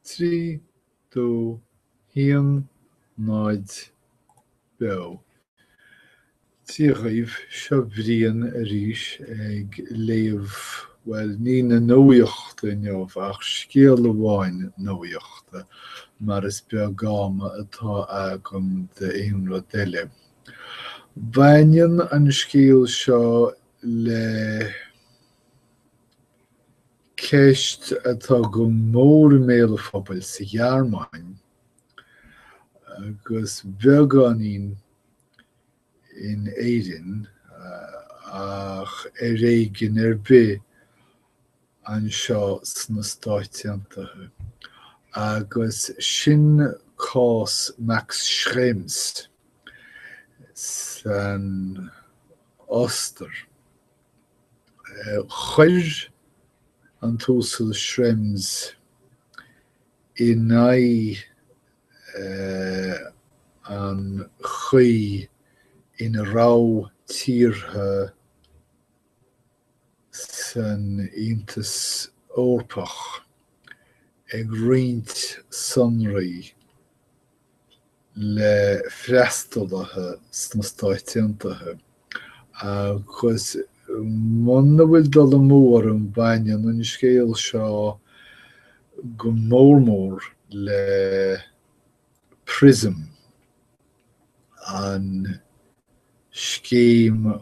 3, 2, 1, 0, beo. Dia dhaoibh, seo Brian arís ag léamh, bhuel, ní na nuachta inniu ach scéal amháin nuachta, mar is beag am atá agam d'aon rud eile. Baineann an scéal seo le ceist atá go mór i mbéal an phobail sa Ghearmáin agus beagáinín in Éirinn ach ar éigin ar bith anseo sna Stáit Aontaithe, agus sin cás Max Schrems san Ostair. Chuir an tUasal Schrems in aghaidh an chaoi ina raibh tíortha san Aontas Eorpach ag roinnt sonraí le freastalaithe sna Stáit Aontaithe, agus muna bhfuil dul amú orm baineann an scéal seo go mór mór le Prism, an scéim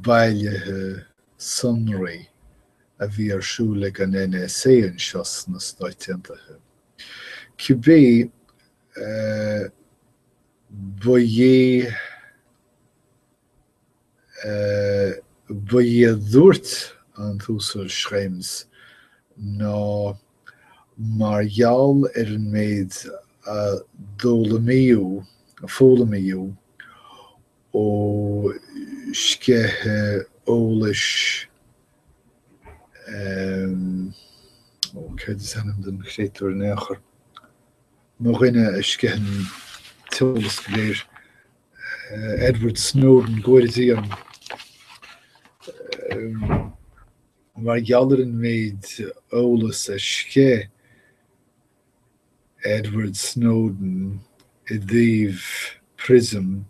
bailithe sonraí a bhí ar siúl ag an NSA anseo sna Stáit Aontaithe. Cibé, ba é, ba é a dúirt an tUasal Schrems ná mar gheall ar an méid a d'fhoghlaimíodh, a foghlaimíodh, ó sceitheadh eolais Ehm. Ó, céard is ainm don chréatúr in aon chor? Mo dhuine a sceith an t-eolas go léir. Eh, Edward Snowden, go bhfóire Dia orainn. Ehm, mar gheall ar an méid eolas a sceith, Edward Snowden i dtaobh Prism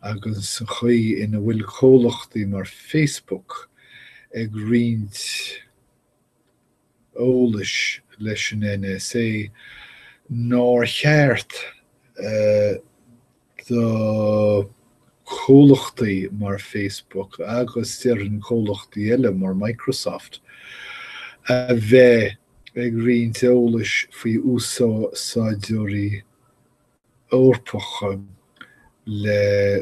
agus an chaoi ina bhfuil comhlachtaí mar Facebook ag roinnt eolais leis an NSA nár cheart a do chomhlachtaí mar Facebook agus déarfainn comhlachtaí eile mar Microsoft, a bheith ag roinnt eolais faoi úsáideoirí Eorpacha le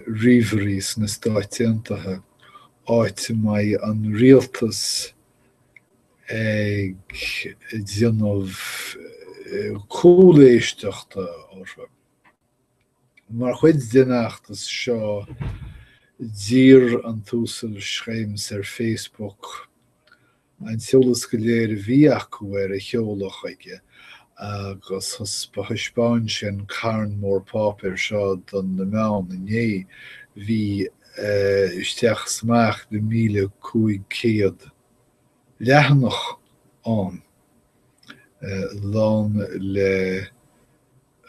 ríomhairí sna Stáit Aontaithe, áit a mbeidh an rialtas ag déanamh cúléisteachta orthu. Mar chuid den fheachtas seo, d'iarr an tUasal Schrems ar Facebook an t-eolas go léir a bhí acu air a sheoladh chuige agus thaispeáin sé an carn mór páipéir seo do na meáin inné. Bhí isteach is amach le 1,500 leathanach ann, lán le.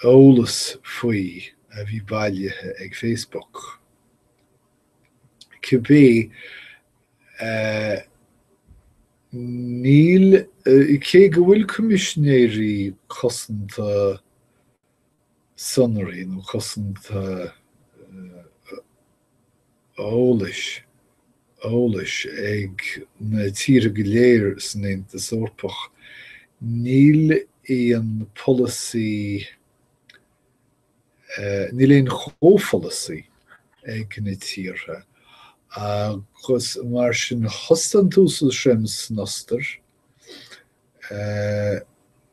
eolas faoi a bhí bailithe ag Facebook. Cibé, eh níl, cé go bhfuil Coimisinéirí Cosanta Sonraí nó Cosanta eolais eolais ag na tíortha go léir san Aontas Eorpach. Níl aon pholasaí eh níl aon chomhpholasaí ag na tíortha agus mar sin thosaigh an tUasal Schrems san Ostair, eh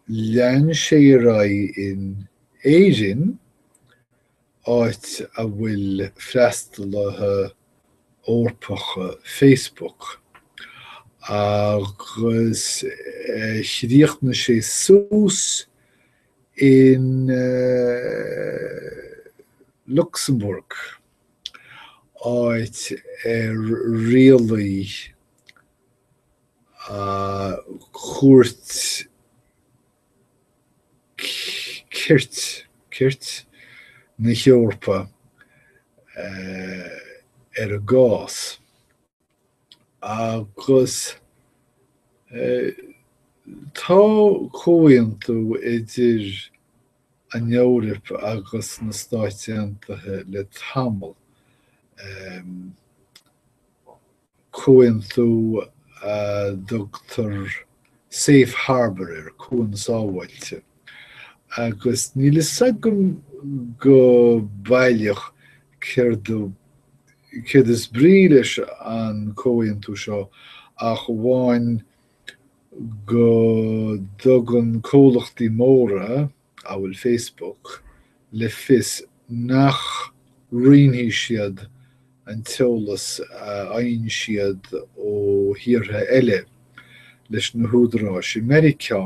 lean sé ar aghaidh in Éirinn, áit a bhfuil freastalaithe Eorpacha Facebook, agus chríochnaigh sé suas in Lucsamburg, áit ar rialaigh cúirt cirt, cirt na hEorpa ar an gcás agus tá comhaontú idir an Eoraip agus na Stáit Aontaithe le tamall, comhaontú a dtugtar safe harbour air, cuan sábháilte, agus níl fhios agam go baileach céard a céard is brí leis an comhaontú seo ach amháin go dtugann comhlachtaí móra amhail Facebook, le fios nach roinnfidh siad an t-eolas a fhaigheann siad ó thíortha eile leis na húdaráis i Meiriceá,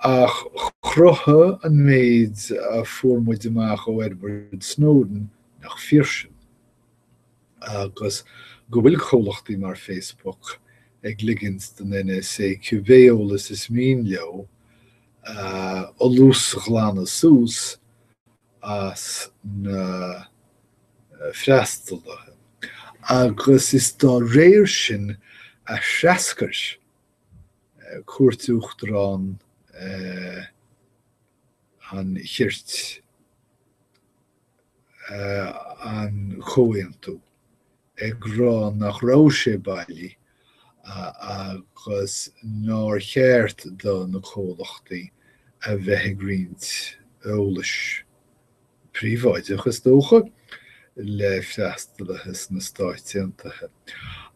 ach chruthaigh an méid a fuair muid amach ó Edward Snowden nach fíor sin, agus go bhfuil comhlachtaí mar Facebook ag ligint don NSA cibé eolas is mian leo a fholúsghlanadh suas as na freastalaithe agus is dá réir sin a threascair Cúirt Uachtarach an Chirt an comhaontú. ag rá nach raibh sé bailí agus nár cheart do na comhlachtaí a bheith ag roinnt eolais, príobháideach is dócha, le freastalaithe sna Stáit Aontaithe.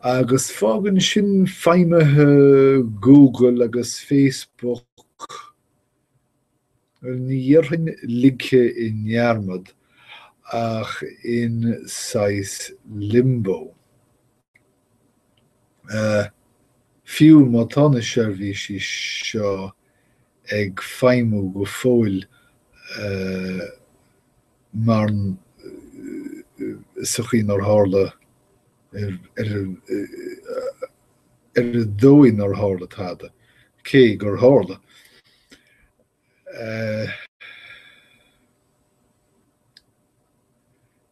Agus fágann sin feidhmithe Google agus Facebook Ní dhéarfainn ligthe i ndearmad, ach in saghas Limbo. Fiú má tá na seirbhísí seo ag feidhmiú go fóill, mar sa chaoi nár tharla ar an dóigh nár tharla tada, cé gur tharla.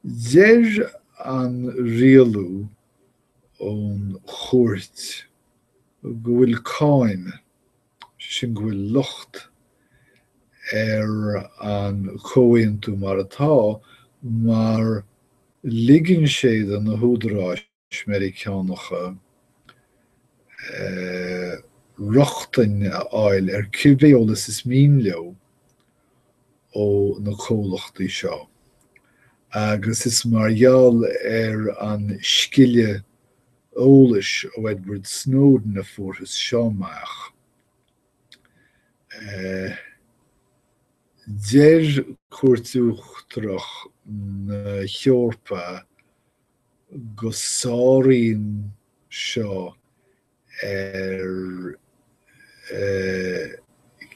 Deir an rialú ón Chúirt go bhfuil cáin sin go bhfuil locht ar an chomhaontú mar atá mar ligeann sé do na húdaráis Mheiriceánacha rochtain a fháil ar cibé eolas is mian leo ó na comhlachtaí seo agus is mar gheall ar an sceitheadh eolais ó Edward Snowden a fuarthas seo amach. Deir Cúirt Uachtarach na hEorpa go sáraíonn seo ar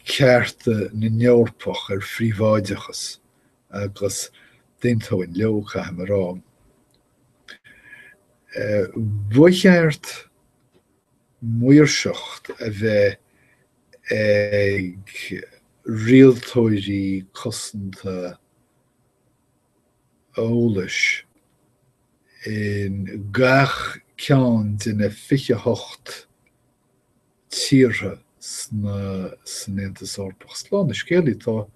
chearta na nEorpach ar phríobháideachas agus d'aontóinn leo, caithim a rá. Ba cheart maoirseacht a bheith ag rialtóirí cosanta eolais in gach ceann de na 28 tíortha san Aontas Eorpach. Slán an scéalaí, tá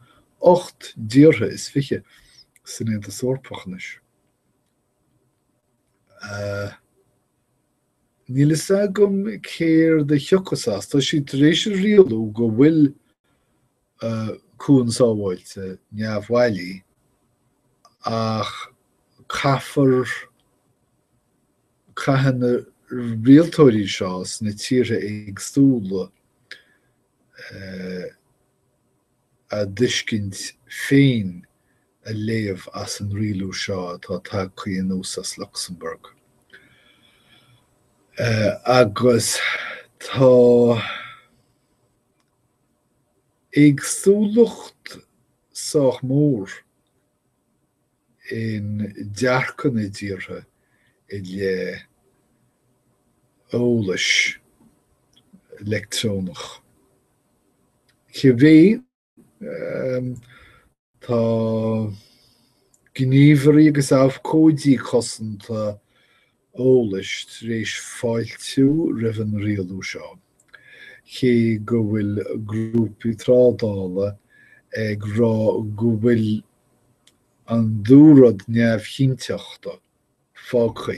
ocht dtíortha is fiche san Aontas Eorpach anois. Níl a fhios agam céard a thiocfas as, tá siad tar éis a rialú go bhfuil a cuan sábháilte neamhbhailí ach caithfear caithfidh na rialtóirí seo sna tíortha éagsúla a dtuiscint féin a léamh as an rialú seo atá tagtha anuas as Lucsamburg agus tá. Éagsúlacht sách mór i ndearcadh na dtíortha i leith eolais leictreonach. Cibé Tá gníomhairí agus abhcóidí cosanta eolais tar éis fáiltiú roimh an rialú seo, cé go bhfuil grúpaí trádála ag rá go bhfuil an dúrud neamhchinnteachta fágtha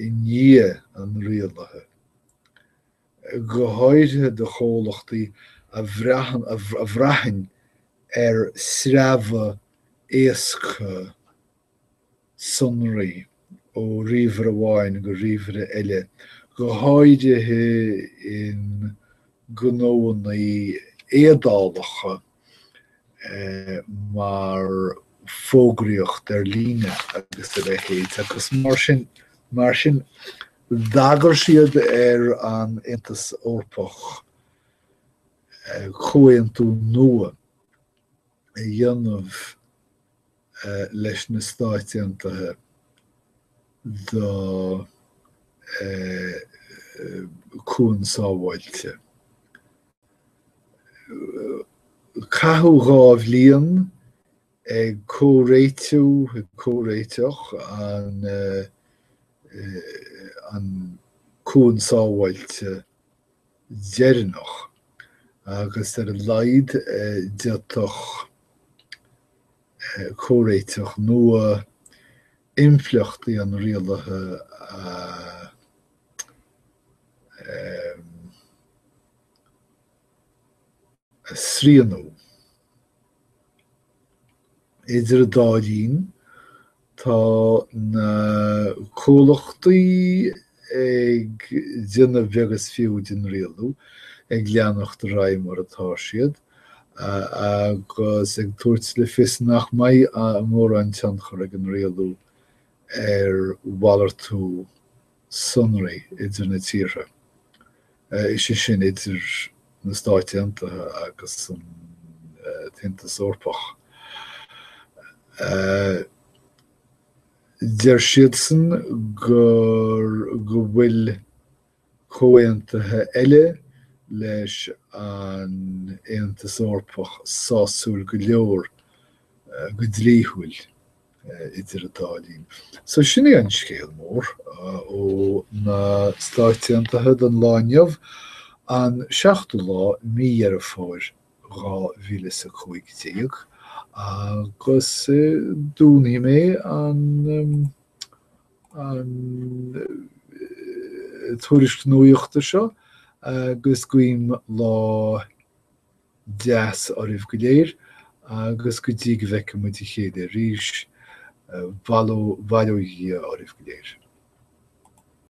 i ndiaidh an rialaithe. go háirithe do chomhlachtaí a bhraitheann ar sreabhadh éasca sonraí ó ríomhaire amháin go ríomhaire eile, go háirithe i ngnóanna éadálacha. mar fógraíocht ar líne agus a leithéid agus mar sin mar sin d'agair siad ar an Aontas Eorpach eh, comhaontú nua a dhéanamh eh, leis na Stáit Aontaithe do eh, chuan sábháilte. Caitheadh dhá bhliain ag comhréitiú, ag comhréiteach, an cuan sábháilte deireanach agus ar a laghad d'fhéadfadh comhréiteach nua impleachtaí an rialaithe a a shrianú. Idir an dá linn, tá na comhlachtaí ag déanamh beag is fiú den rialú, ag leanacht ar aghaidh mar atá siad, agus ag tabhairt le fios nach mbeidh mórán tionchar ag an rialú ar mhalartú sonraí idir na tíortha, is é sin idir na Stáit Aontaithe agus an tAontas Eorpach. Deir siadsan gur, go bhfuil comhaontuithe eile leis an Aontas Eorpach sásúil go leor go dlíthiúil idir an dá linn. So sin é an scéal mór ó na Stáit Aontaithe don lá inniu, an seachtú lá mí Dheireadh Fómhair dhá mhíle is a cúig déag, agus dúnfaidh mé an an tuairisc nuachta seo agus guím lá deas oraibh go léir agus go dtí go bhfeicfidh muid a chéile arís, bail ó Dhia oraibh go léir.